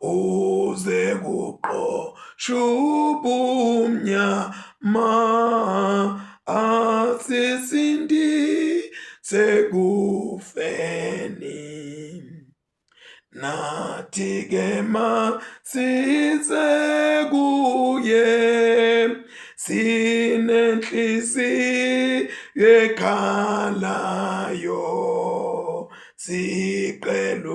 uze kuqoshwe ubumnyama asisindise kufeni nathi ke masise kuye sinenhliziyo ekhalayo sicela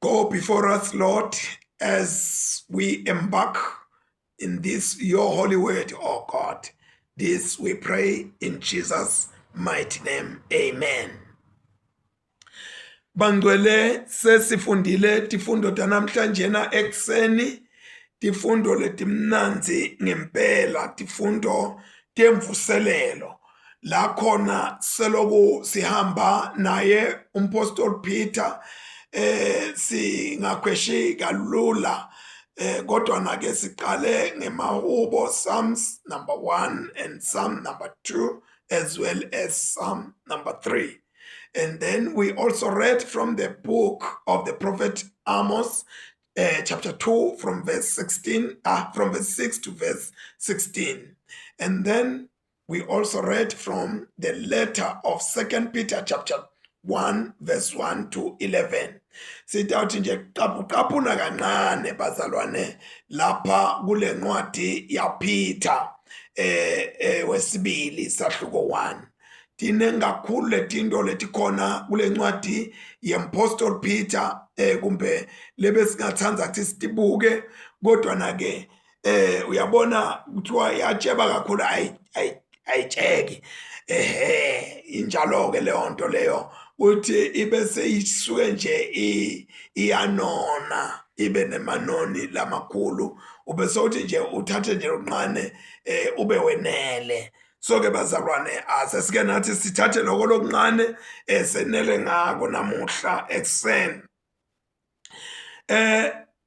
Go before us, Lord, as we embark in this your holy word, oh God. This we pray in Jesus' mighty name. Amen. Bangcwele sesifundile tifundo tanamhlanje na ekseni tifundo letimnanzi ngempela tifundo temvuselelo la khona seloku sihamba naye umpostoli Peter eh singakhweshi kalula eh kodwa nake siqale ngemahubo Psalms number 1 and Psalm number 2 as well as Psalm number 3 and then we also read from the book of the prophet Amos uh, chapter 2 from verse 16 uh, from verse 6 to verse 16 and then We also read from the letter of 2 Peter chapter 1 verse 1 to 11 sitawuthi nje qapuqapuna kancane bazalwane lapha kule ncwadi yaPeter eh, eh wesibili sahluko 1 tiningi kakhulu letinto letikhona kule ncwadi yempostol Peter eh kumbe lebesingathanda ukuthi sitibuke kodwa na ke eh uyabona kuthiwa yatsheba kakhulu ayi ayitsheki ehe injalo ke leyo nto leyo uthi ibe seyisuke nje iyanona ibe nemanoni lamakhulu ube sothi nje uthathe nje lokunqane eh ube wenele so ke bazalwane asesike nathi sithathe lokho lokunqane esenele ngako namuhla ekseni eh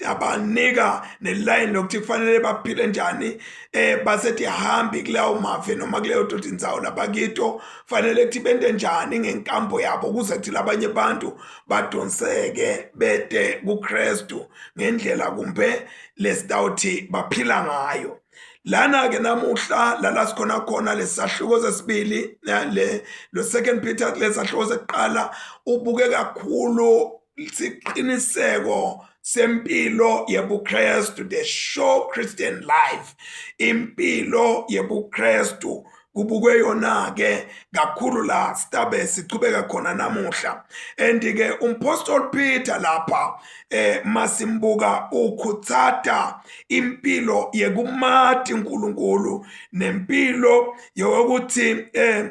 yabanika neline lokuthi kufanele baphile njani eh basethi hambi kuleyo mafe noma kuleyo dodi inzawo labakito fanele kuthi bente njani ngenkambo yabo ukuze kuthi labanye abantu badonseke bede kuKristu ngendlela kumbe lesitawuthi baphila ngayo lana ke namuhla lala sikhona khona lesahluko sesibili le lo second Peter lesahluko sekuqala ubuke kakhulu siqiniseko sempilo yebuKristu the show Christian life impilo yebuKristu kubukwe yona ke kakhulu la stabe sichubeka khona namuhla and ke umpostol Peter lapha eh masimbuka ukhutsata impilo yekumati uNkulunkulu nempilo yokuthi eh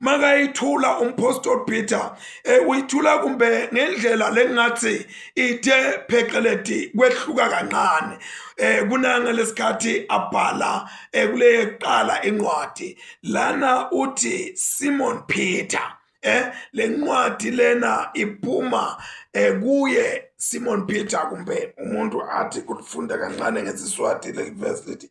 makayithula umphostoli peter um uyithula kumbe ngendlela lengingathi ithe pheceledi kwehluka kancane eh kunanga lesikhathi abhala eh, kule yeqala incwadi lana uthi Simon Peter eh lencwadi lena iphuma eh kuye Simon Peter kumbe umuntu athi kulifunda kancane ngesiswati leli verse lithi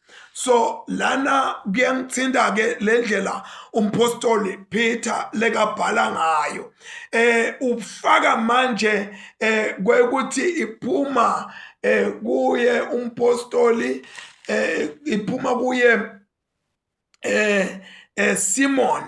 so lana kuyangithinta ke lendlela umpostoli Peter lekabhala ngayo eh ufaka manje eh kwekuthi iphuma eh kuye umpostoli eh iphuma kuye eh eh Simon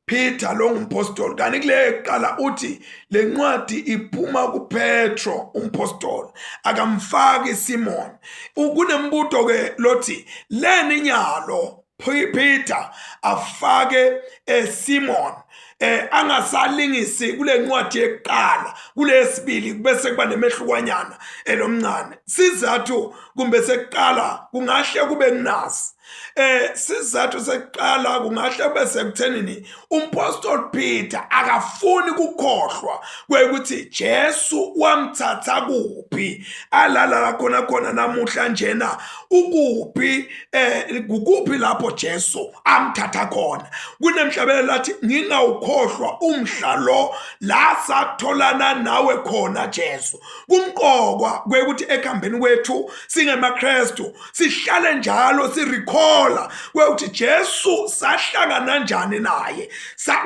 Peter lo ngumpostoli kanti kule kuqala uthi le ncwadi iphuma kuPetro umpostoli akamfaki Simon ukunembuto ke lothi leni nyalo Peter afake eh, Simon eh angasalingisi kule ncwadi yeqala kulesibili bese kuba nemehlukwanyana elomncane eh, sizathu kumbe sekuqala kungahle kube kunasi eh sizathu sekuqala kungahle bese kuthenini umpostoli Peter akafuni kukhohlwa kwekuthi Jesu wamthatha kuphi alala la khona khona namuhla njena ukuphi eh kukuphi lapho Jesu amthatha khona kunemhlabele lathi ngingawukhohlwa umhla lo la satholana nawe khona Jesu kumqokwa kwekuthi ekhambeni kwethu singemaKristu sihlale njalo sirecalla kwekuthi Jesu sahlangana njani naye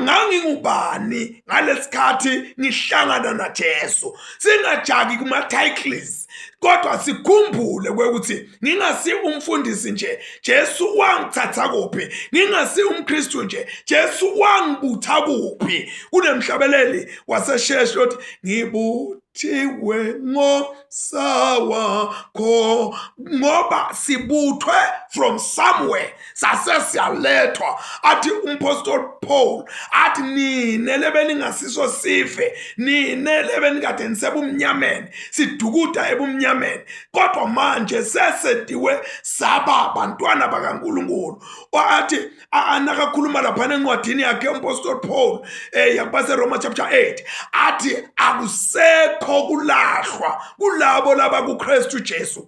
ngangingubani ngalesikhathi ngihlangana na Jesu singajaki kuma titles kodwa sikhumbule kwekuthi ngingasi umfundisi nje Jesu wangithatha kuphi ngingasi umKristu nje Jesu wangibutha kuphi kunemhlabeleli wasesheshe uthi ngibutha thiwe ngosawa kho ngoba sibuthwe from somewhere sase siyalethwa athi umpostoli paul athi nine lebe ningasiso sife nine lebe nikade nisebumnyameni sidukuda ebumnyameni kodwa manje sesediwe saba bantwana bakankulunkulu athi anakakhuluma laphana encwadini yakhe umpostoli paul um eh, yakubaseroma chapter 8 athi akusekho kulahlwa kulabo laba kukristu jesu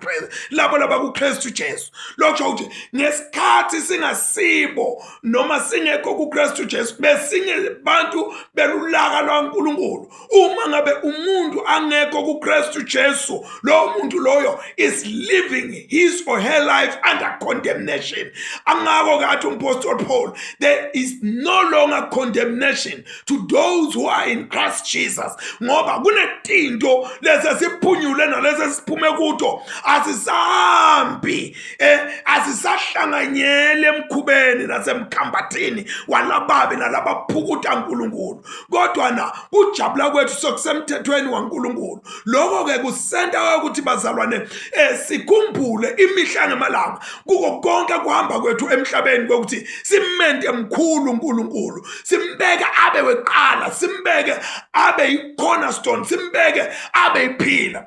labo laba kukristu jesu lokusho ukuthi ngesikhathi singasibo noma singekho kukristu jesu besinye bantu belulaka lwankulunkulu uma ngabe umuntu angekho kuKristu Jesu lowo muntu loyo is living his or her life under condemnation angako kathi umpostol Paul there is no longer condemnation to those who are in Christ Jesus ngoba kunetinto lezi esiphunyule nalezi esiphume kuto asisambi eh asisahlanganyele emkhubeni nasemkhambathini walababi nalabaphukuta uNkulunkulu kodwa na kujabula kwethu sokusemthethweni waNkulunkulu lokho ke kusenta ukuthi bazalwane esikhumbule eh, imihla ngemalanga kuko konke kuhamba kwethu emhlabeni kokuthi simente mkhulu uNkulunkulu simbeke abe weqala simbeke abe ikhona stone simbeke abe iphila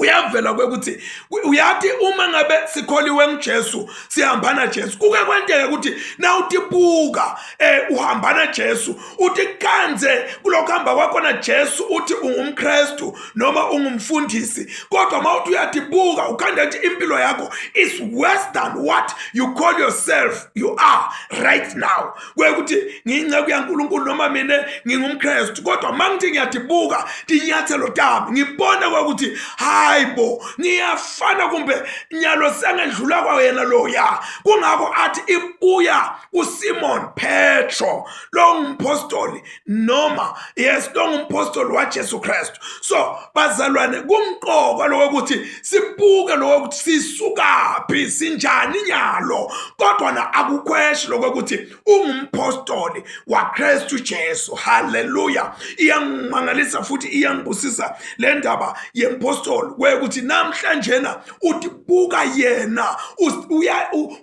kuyavela kwekuthi uyathi uma ngabe sikholiwe nguJesu sihambana Jesu kuke kwenteke ukuthi na utibuka eh uhambana Jesu uthi kanze kulokho hamba kwakho na Jesu uthi ungumKristu noma ungumfundisi kodwa mawuthi uyatibuka ukhanda nje impilo yakho is worse than what you call yourself you are right now kuye ukuthi ngiyinceku yankulunkulu noma mina ngingumkrestu kodwa uma ngithi ngiyadibuka tinyathelo tami ngibone kwakuthi hayi bo ngiyafana kumbe nyalo sengedlula kwa yena loya kungakho athi ibuya kusimon petro lo ngumpostoli noma yes lo ngumpostoli waJesu Kristu so bazalwane kumqoka lokuthi sibuke lokuthi sisukaphi sinjani nyalo kodwa na akukhweshi lokuthi ungumpostoli waKristu Jesu haleluya iyangimangalisa futhi iyangibusisa le ndaba yempostoli kwekuthi namhlanje na utibuka yena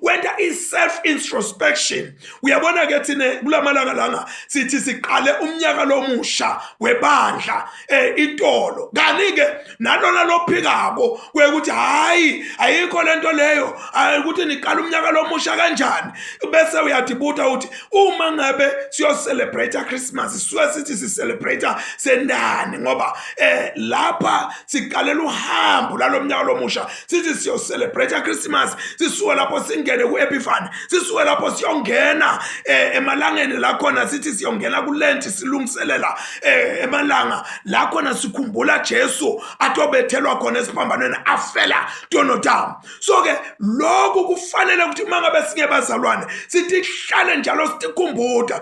wenta i self introspection uyabona ke thina kulamalanga langa sithi siqale umnyaka lomusha webandla eh itolo kani ke nalona lophikako kwekuthi hayi ayikho lento leyo ukuthi niqala umnyaka lomusha kanjani bese uyadibuta uthi uma ngabe siyo celebrate Christmas sisuke sithi si celebrate sendani ngoba eh lapha siqalela uhambo lalomnyaka lomusha sithi siyocelebrate Christmas sisuke lapho singene kuEpiphany sisuke lapho siyongena eh, emalangeni la khona sithi siyongena kulent silungiselela eh, emalanga la khona sikhumbula Jesu atobethelwa khona esiphambanweni afela tonodam so ke lokhu kufanele ukuthi mangabe singebazalwane sithi hlale njalo sikhumbuda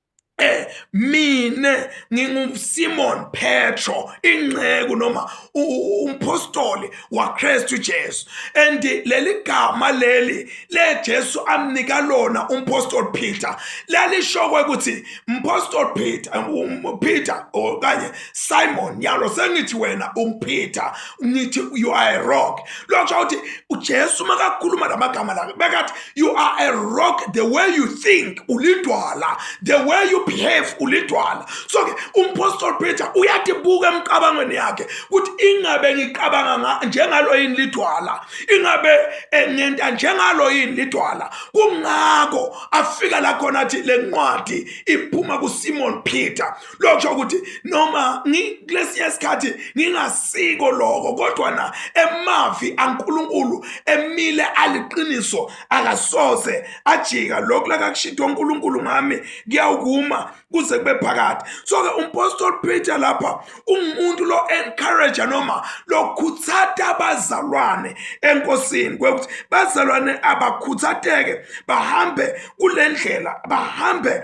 eh mina nginguSimon Petro inceku noma umpostoli waKristu Jesu and leli gama leli leJesu amnika lona umpostoli Peter lalishokwe ukuthi umpostoli Peter um, Peter okanye Simon yalo sengithi wena uPeter ngithi you are a rock lokho ukuthi uJesu makakhuluma lamagama la bekathi you are a rock the way you think ulidwala the way you behave ulidwala so ke umpostoli peter uyatibuka emicabangweni yakhe ukuthi ingabe ngicabanga njengalo yini lidwala ingabe eh, ngenta njengalo yini lidwala kungakho afika la khona athi le ncwadi iphuma kusimon peter lokusho ukuthi noma ngikulesiya isikhathi ngingasiko lokho kodwa na emavi aNkuluNkulu emile aliqiniso akasoze ajika lokhu lakakushidwa uNkuluNkulu ngami kuyawukuma kuze kube phakade so ke umpostoli Peter lapha ungumuntu lo encourage noma lokhuthata abazalwane enkosini kwekuthi bazalwane abakhuthateke bahambe kulendlela bahambe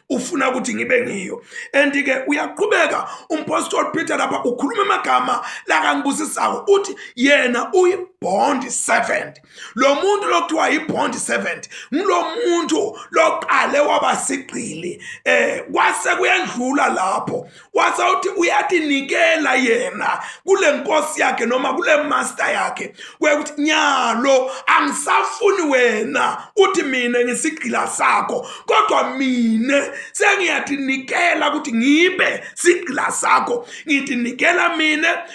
ufuna ukuthi ngibe ngiyo and ke uyaqhubeka umpostoli Peter lapha ukhuluma amagama lakangibusisayo uthi yena uyi bond servant lo muntu lokuthiwa yi-bond servant ngulo muntu loqale wabasigqili eh kwase kuyendlula lapho wasawuthi uyatinikela yena kule nkosi yakhe noma kule master yakhe kwekuthi nyalo angisafuni wena uthi mina ngisigqila sakho kodwa mina sengiyatinikela ukuthi ngibe sigqila sakho ngitinikela mina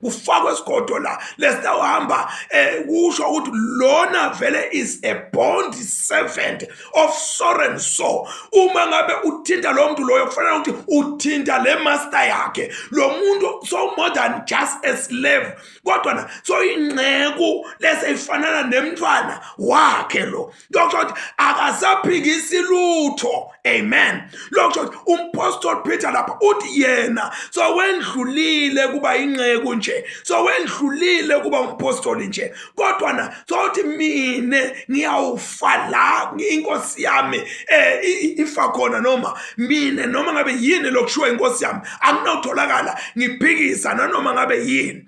kufakwe isigodo la lesitawuhamba eh kusho ukuthi lona vele is a bond servant of soren so uma ngabe uthinta lo muntu loyo kufanele ukuthi uthinta le master yakhe lo muntu so more than just a slave kodwa na so inceku leseyifanana nemntwana wakhe lo lokusho ukuthi akasaphikisi lutho amen lokusho ukuthi umpostoli peter lapha uthi yena sowendlulile kuba inceku nje sowendlulile kuba umpostoli nje kodwa na sothi mine ngiyawufa la inkosi yami um eh, ifa khona noma mine noma ngabe yini lokushiwo inkosi yami anginotholakala ngiphikisa nanoma ngabe yini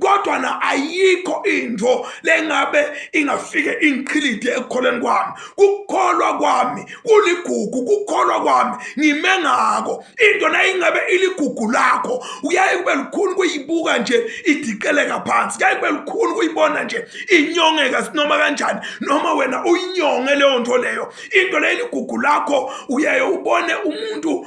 kodwa na ayikho into lengabe ingafike ingiqhilide ekukholweni kwami kukholwa kwami kuligugu kukholwa kwami ngime ngako into nayingabe iligugu lakho uyaye kube lukhulu kuyibuka nje idiqeleka phansi kuyaye kube lukhulu kuyibona nje inyongeka sinoma kanjani noma wena uyinyonge leyo nto leyo into leyo iligugu lakho uyaye ubone umuntu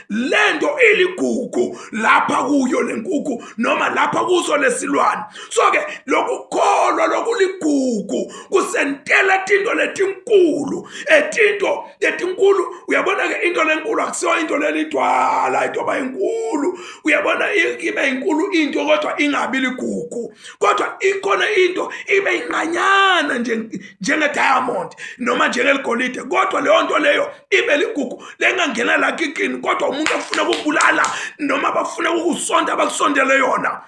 lento iligugu lapha kuyo lenkukhu noma lapha kuso lesilwane so ke lokukholwa lokuligugu kusentela tinto letinkulu etinto letinkulu uyabona ke into lenkulu akusiyo into lelidwala into bayinkulu uyabona ibe inkulu into kodwa ingabi ligugu kodwa ikhona into ibe inqanyana nje njenge diamond noma njengeligolide kodwa leyo nto leyo ibe ligugu lengangena la kikini kodwa umuntu afuna ukubulala noma bafuna ukusonta abakusondele yona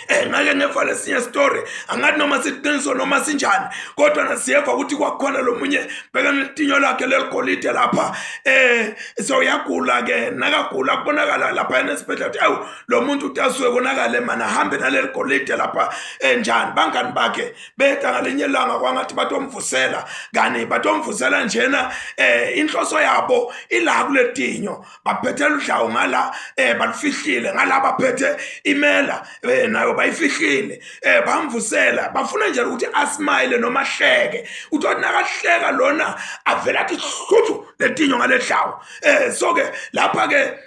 Eh ngake ngevale sinye story angathi noma siqiniso noma sinjani kodwa nasiyeva ukuthi kwakhona lomunye beka netinyo lakhe leligolide lapha eh so yagula ke nakagula kubonakala lapha enesibhedlela ukuthi awu lomuntu utasuke konakala emana hambe naleligolide lapha enjani eh, bangani bakhe beta ngalinye ilanga kwangathi batomvusela kani batomvusela njena eh inhloso yabo ila kuletinyo baphethela udlawu ngala eh balifihlile ngala baphethe imela eh nayo bayifihlile eh bamvusela bafuna nje ukuthi asmile noma hleke uthi nakahleka lona avela athi hluthu letinyo ngaledlawu eh so ke lapha ke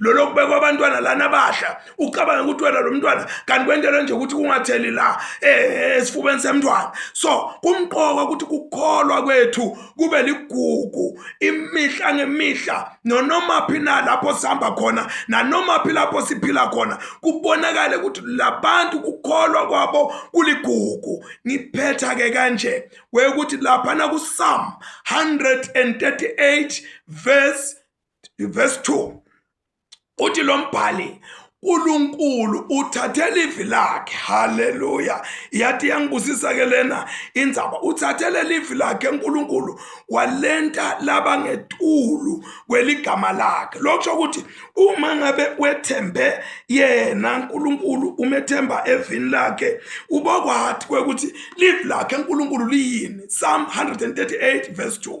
lolo kubekwa abantwana lana abadla ucabanga ukuthi wena lo mntwana kanti kwentelwe nje ukuthi kungatheli la eh, esifubeni semntwana so kumqoka ukuthi kukholwa kwethu kube ligugu imihla ngemihla nonoma phi na lapho sihamba khona nanoma phi lapho siphila khona kubonakale ukuthi labantu kukholwa kwabo kuligugu ngiphetha ke kanje kwekuthi lapha na ku Psalm 138 verse Verse 2 uthi lo mbhali uNkulunkulu uthathela ivi lakhe haleluya yathi yangibusisa ke lena indzaba uthathele livi lakhe uNkulunkulu walenta laba ngetulu kweligama lakhe lokusho ukuthi uma ngabe wethembe yena uNkulunkulu umethemba evini lakhe ubokwathi kwekuthi livi lakhe uNkulunkulu liyini Psalm 138 verse 2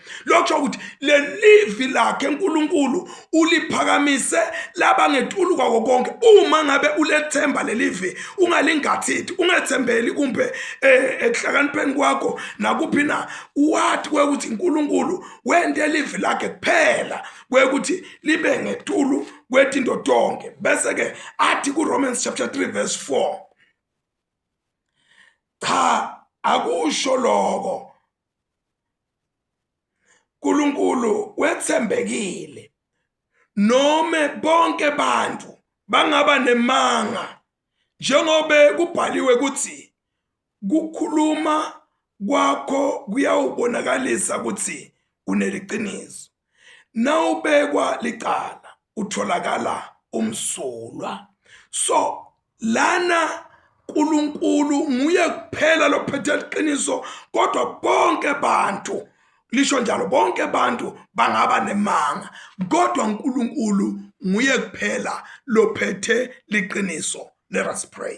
lokho ukuthi lelivi lakhe uNkulunkulu uliphakamise laba ngetulu kwako konke uma ngabe ulethemba lelivi ungalingathithi ungethembeli kumbe eh, ekuhlakanipheni kwakho nakuphi na wathi kwekuthi uNkulunkulu wente livi lakhe kuphela kwekuthi libe ngetulu kwetinto tonke bese ke athi kuRomans chapter 3 verse 4 cha akusho lokho uNkulunkulu wethembekile noma bonke abantu bangaba nemanga njengobe kubhaliwe ukuthi kukhuluma kwakho kuyawubonakalisa ukuthi uneliqiniso nawubekwa licala utholakala umsulwa so lana uNkulunkulu nguye kuphela lophethe iqiniso kodwa bonke abantu lisho njalo bonke abantu bangaba nemanga kodwa uNkulunkulu nguye kuphela lophethe liqiniso let us pray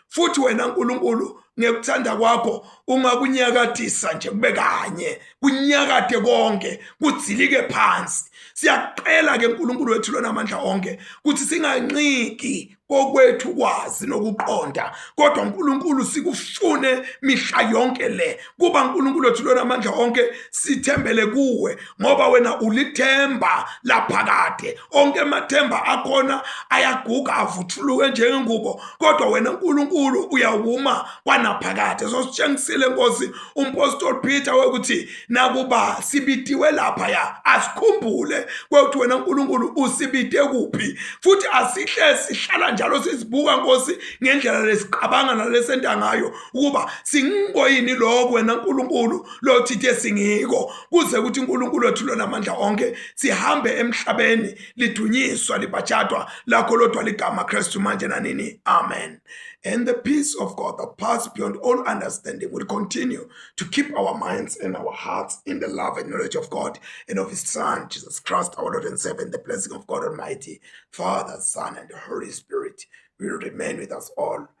futhi wena nkulunkulu ngekuthanda kwakho ungakunyakadisa nje kube kanye kunyakade konke kudzilike phansi siyaqela ke uNkulunkulu wethu lonamandla onke ukuthi singanqiki kokwethu kwazi nokuqonda kodwa uNkulunkulu sikufune mihla yonke le kuba uNkulunkulu wethu lona amandla onke sithembele kuwe ngoba wena ulithemba laphakade onke amathemba akhona ayaguga avuthuluke njengengubo kodwa wena uNkulunkulu uyawuma kwanaphakade so sitshengisile nkosi umpostoli Peter wekuthi nakuba sibitiwe lapha ya asikhumbule kwekuthi wena uNkulunkulu usibite kuphi futhi asihle sihlala njalo sizibuka nkosi ngendlela lesiqabanga nalesenta ngayo ukuba singoyini lokho wena nkulunkulu lothithe singiko kuze ukuthi unkulunkulu wethu lonamandla onke sihambe emhlabeni lidunyiswa libhatshadwa lakho lodwa ligama kristu manje nanini amen and the peace of god that pass beyond all understanding will continue to keep our minds and our hearts in the love and knowledge of god and of his son jesus christ our lord and savior and the blessing of god almighty father son and the holy spirit will remain with us all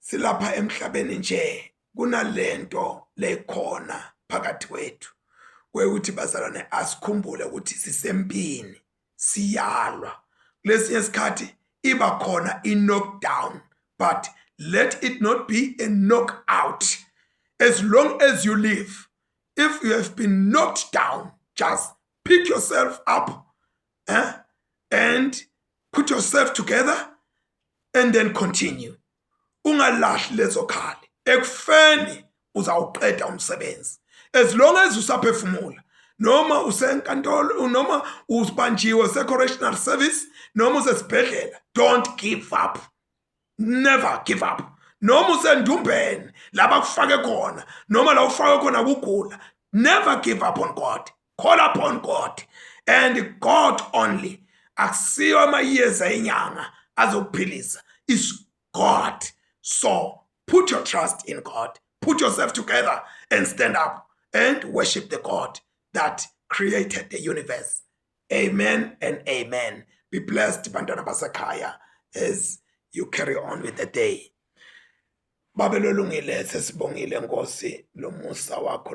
silapha emhlabeni nje kunalento lekhona phakathi kwethu kwekuthi bazalwane asikhumbule ukuthi sisempini siyalwa kulesinye isikhathi iba khona i-knockdown but let it not be a knockout as long as you live if you have been knocked down just pick yourself up eh? and put yourself together and then continue ungalahli lezo khali ekufeni uzawuqeda umsebenzi as long as usaphefumula noma usenkantolo noma ubanjiwe se-correctional service noma usesibhedlela don't give up never give up noma usendumbeni laba kufake khona noma la ufake khona kugula never give up on god call upon god and god only akusiyo amayeza enyanga azokuphilisa is god so put your trust in god put yourself together and stand up and worship the god that created the universe Amen and amen. Be blessed bantwana basekhaya as you carry on with the day. Babe lolungile sesibongile Nkosi lomusa wakho